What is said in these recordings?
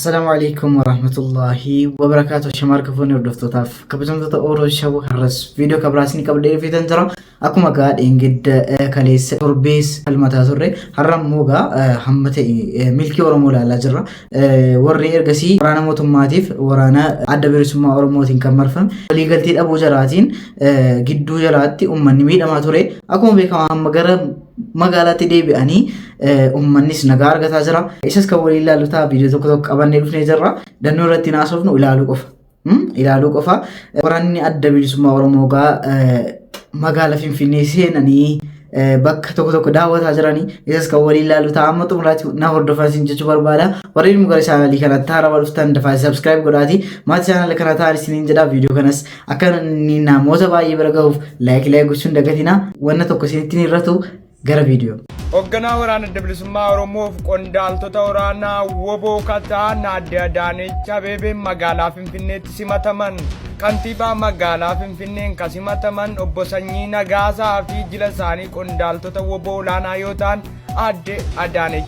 Assalamu alaikum warahmatullahi wabarakatuh Shamaar kafoonni hordoftootaaf kabajamtoota Ooroo Shawwa har'as viidiyoo kabiraas ni qabdee fidan jira akkuma gaa dheengadda kaleessa torbees falmataa turre har'a immoo gaa hamma ta'e milkii Oromoo ilaalaa jirra warri ergasii waraana mootummaatiif waraana adda bilisummaa Oromootiin kan marfame waliigaltee dhabuu jalaatiin gidduu jalaatti uummanni miidhamaa ture akkuma beekamaa amma gara magaalaatti deebi'anii Uummannis nagaa argataa jira. Isas kan waliin ilaallu ta'a viidiyoo tokko tokko qabannee dhufnee jirra. Dannoo irratti hin haasofnu ilaaluu qofa. Ilaaluu qofa. Waraanni adda bilisummaa Oromoo gaa magaala Finfinnee seenanii bakka tokko tokko daawwataa jiranii isas kan waliin ilaallu ta'a amma xumuraatti na hordofaa isin jechuu barbaada. Warreen immoo gara chaanalii kanatti haarawaa dhuftan dafaa subscribe godhaatii maatii chaanalii kana ta'an isiniin jedha viidiyoo kanas akka namoota baay'ee bira gahuuf laayik laayik gochuun dagatinaa wanna tokko isinitti hin irratu Gara viidiyoo. Hogganaa Waraana Adda Bilisummaa Oromoof qondaaltota waraanaa woboo kan ta'an Aadde Adaanech Abeebeen magaalaa Finfinneetti simataman. Kantiibaa magaalaa Finfinneen kan simataman obbo Sanyii Nagaasaa fi jila isaanii qondaaltota woboo olaanaa yoo ta'an Aadde Adaanech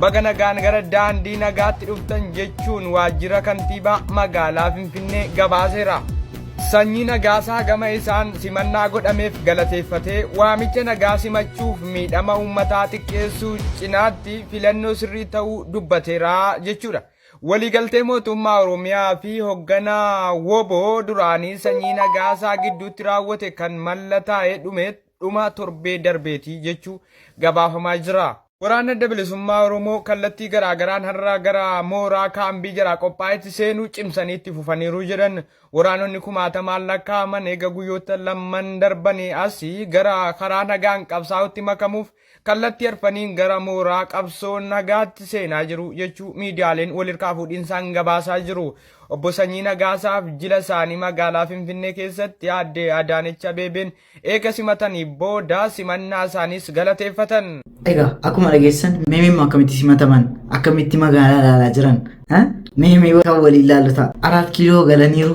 Baga nagaan gara daandii nagaatti dhuftan jechuun waajjira kantiibaa magaalaa Finfinnee gabaaseera. Sanyii Nagaasaa gama isaan simannaa godhameef galateeffatee waamicha nagaa simachuuf miidhama uummataa xiqqeessuu cinaatti filannoo sirrii ta'uu dubbateera jechuudha. Waliigaltee mootummaa Oromiyaa fi hogganaa Woboo duraanii Sanyii Nagaasaa gidduutti raawwate kan mallataa'e dhumeet dhumaa torbee darbeeti jechuu gabaafamaa jira. Waraanni Adda Bilisummaa Oromoo kallattii garaa garaan har'a gara mooraa kaambii jalaa qophaa'etti seenuu cimsanii itti fufaniiru jedhan. Waraanonni kumaatamaan lakkaa'aman eega guyyoota lamman darbanii asi gara karaa nagaan qabsaa'utti makamuuf kallattii arfaniin gara mooraa qabsoo nagaatti seenaa jiru jechuu miidiyaaleen walirkaa fuudhinsaan gabaasaa jiru. Obbo Sanyii Nagaasaaf jila isaanii magaalaa Finfinnee keessatti aadde Adaanech Abeebeen Eega simatanii booda simannaa isaaniis galateeffatan. Egaa akkuma dhageessan meemee immoo akkamitti simataman akkamitti magaalaa ilaalaa jiran meemee kan waliin ilaallu ta'a. Araat kiiloo galaniiru.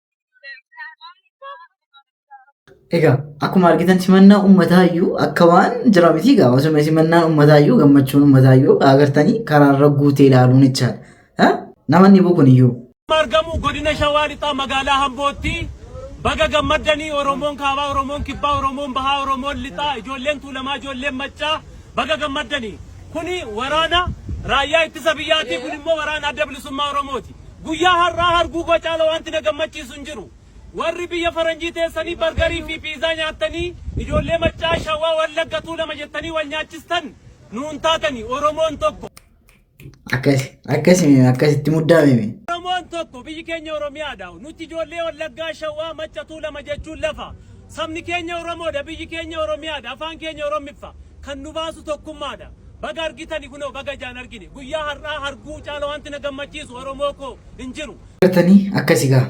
Egaa akkuma argitan simannaa uummataa iyyuu akka waan jira miti egaa osuma simannaan uummataa iyyuu gammachuun uummataa iyyuu agartanii karaarra guutee ilaaluun jechaadha. Namanni boo kun iyyuu. argamu godina shawaa lixaa magaalaa hambootti baga gammaddanii oromoon kaabaa oromoon kibbaa oromoon bahaa oromoon lixaa ijoolleen tuulamaa ijoolleen maccaa Baga gammaddani! Kuni waraana Raayyaa Ittisa Biyyaati, kun immoo waraana Adda Bilisummaa Oromooti. Guyyaa har'aa harguugoo caala wanti na gammachiisu hin jiru. Warri biyya faranjii teessanii bargarii fi piizaa nyaattanii ijoollee Maccaa, Shawaa, Wallagga, Tuulama jettanii wal nyaachistan nuun taatani. Oromoon tokko. Akkas akkas akkasitti muddaa mimi. Oromoon tokko biyyi keenya Oromiyaadha. Nuti ijoollee Wallaggaa, Shawaa, Macca, Tuulama jechuun lafa. Sabni keenya Oromoodha, biyyi keenya Oromiyaadha, afaan keenya Oromiffa. Kan nu baasu tokkummaadha. Baga argitani kunoo baga ijaan argine. Guyyaa har'aa harguu caala wanti na gammachiisu Oromoo koo hin jiru. Artanii akkasi gaa.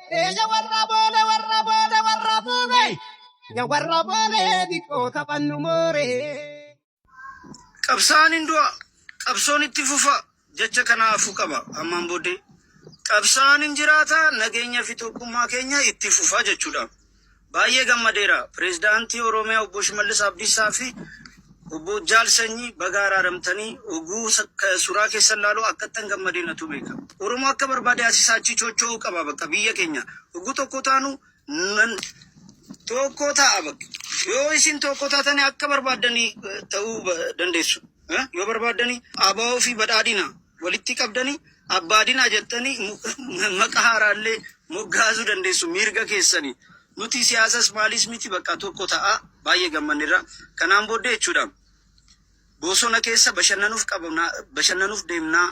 Eeyya warra boole warra boole warra boole. Ya warra boole diqqoo taphannu moore. Qabsaan hin du'a, qabsoon itti fufa jecha kana hafuu qaba. Ammaan booddee qabsaan hin jiraata, nageenya fi tokkummaa keenya itti fufa jechuudha. Baay'ee gammadeera. Pireezidaantii Oromiyaa Obbo Shimallis Abdiisaa fi Obbo Jaal Sanyii baga araaramtanii oguu suraa keessan laaluu akkattan gammadee natu beeka. Oromoo akka barbaade asii isaa achii chocho'uu qaba bakka biyya keenya. Oguu tokko taanu nan tokko ta'a bakka. Yoo isin tokko taatanii akka barbaaddanii ta'uu dandeessu. Yoo barbaaddanii ABO fi badhaadhina walitti qabdani abbaa dinaa jettani maqa haaraallee moggaasuu dandeessu miirga keessani nuti siyaasas maalis miti baqa tokko ta'a baay'ee gammannerra kanaan booddee jechuudha boosona keessa bashannanuf qabna bashannanuf deemnaa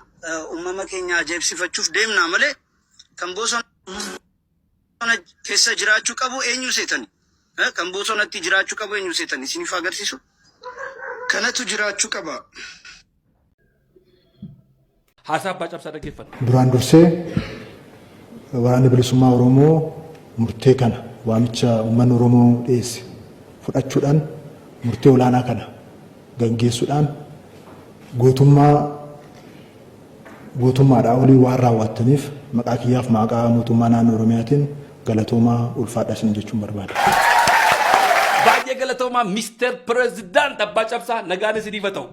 ummama keenya ajaa'ibsifachuuf deemnaa malee kan boosona Bosona kessa jiraachu qabu enyu setani kan bosonatti jiraachu qabu enyu setani isinif agarsisu kanatu jiraachu qaba. Haasaa Abbaa Cabsaa dhaggeeffanna. Duraan dursee Waraanni Bilisummaa Oromoo murtee kana waamicha uummanni Oromoo dhiyeesse fudhachuudhaan murtee olaanaa kana gaggeessuudhaan gootummaa Gootummaadhaa olii waan raawwaattaniif maqaa kiyyaaf maaqaa Mootummaa Naannoo Oromiyaatiin galatoomaa, ulfaadhaa isiniin jechuun barbaada. Baay'ee galatoomaa Mister President Abbaa Cabsaa nagaan isiniif haa ta'u.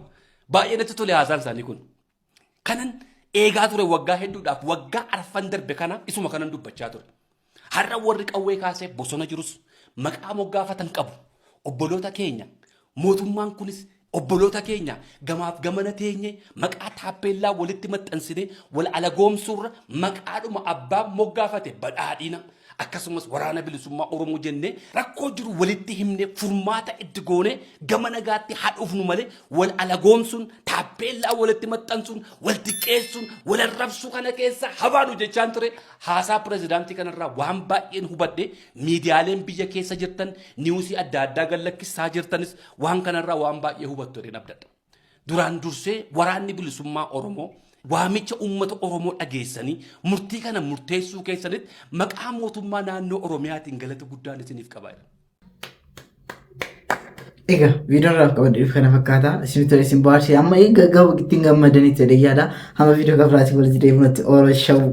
Baay'ee natti tole haasaan isaanii kun. Kanan eegaa ture waggaa hedduudhaaf waggaa arfan darbe kana isuma kanan dubbachaa ture. Har'a warri qawwee kaasee bosona jirus maqaa moggaafatan qabu. Obboloota keenya mootummaan kunis obboloota keenya gamaaf gamana teenye maqaa taappeellaa walitti maxxansine wal alagoomsuurra maqaadhuma abbaa moggaafate badhaadhina akkasumas waraana bilisummaa Oromoo jennee rakkoo jiru walitti himnee furmaata itti goonee gama nagaatti haa dhufnu malee wal alagoomsuun taappeellaa walitti maxxansuun wal xiqqeessuun wal arrabsuu kana keessa habaanu jechaan ture Haasaa pirezidaantii kanarraa waan baay'een hubadhe miidiyaaleen biyya keessa jirtan niwusii adda addaa gad lakkissaa jirtanis waan kanarraa waan baay'ee hubattu jedheen abdadha. Duraan dursee waraanni bilisummaa Oromoo waamicha uummata Oromoo dhageessanii murtii kana murteessuu keessanitti maqaa mootummaa naannoo Oromiyaatiin galata guddaan isiniif qaba. jedha. Egaa viidiyoon irraa qabadheef kana fakkaata. Isin tole isin baarsee amma egaa gaba ittiin gammadanitti jedhee yaada. Hamma viidiyoo gabaabaatti walitti deebinutti oolaa shawuu.